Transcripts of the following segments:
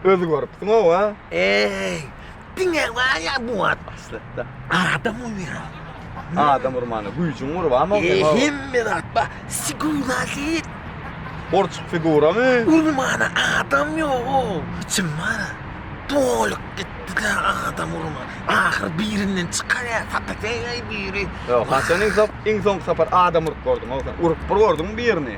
Özi görüpsiň owa. Eý. Diňe bar ya bu at. Aslatda. Adam uyuyor. Adam urmana güýjüň gurban bolsun. Eý hemme zat ba. Sigura git. Borçuk figura mı? Urmana adam yok o. Kim var? Dolyk gitti de adam urma. Ahir birinden çıkar ya. Satak eýley biri. Yok haçan iň son iň son sapar adam urup gördüň o sen. Urup bir gördüň birini.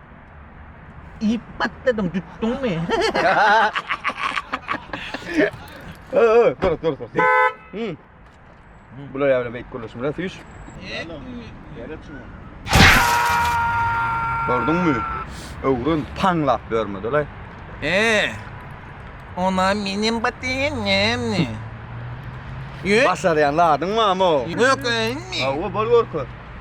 Iýip batladyň, tutduňmy? Ö, ö, dur, dur, dur. Hmm. Bular ýa bilen beýik gürleşim bilen süýş. Gördüňmi? Öwrün taňlap bermediler. Ee, ona menem batýan näme? Ýö, Başarýan ladyň mamo. ýökünmi? Awa bol görkür.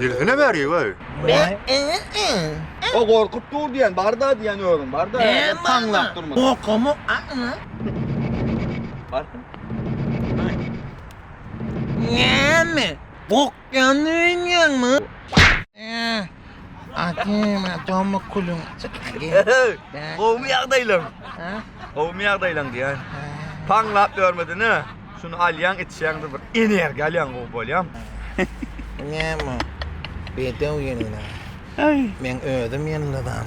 Dirsine beri goý. O gorkup dur diýen barda diýen özüň barda. Taňlap durma. Gorkama. Barka. Näme? Gork Janly öýünýäňmi? Akim, tommy kulun. Gowmy ýagdaýlaň? Gowmy ýagdaýlaň diýýän. Paňlap ýörmedini. Şuny alýaň, içýäň bir energiýa alýaň, gowy bolýaň. Näme? Bedew ýylla. Men özüm ýylladan.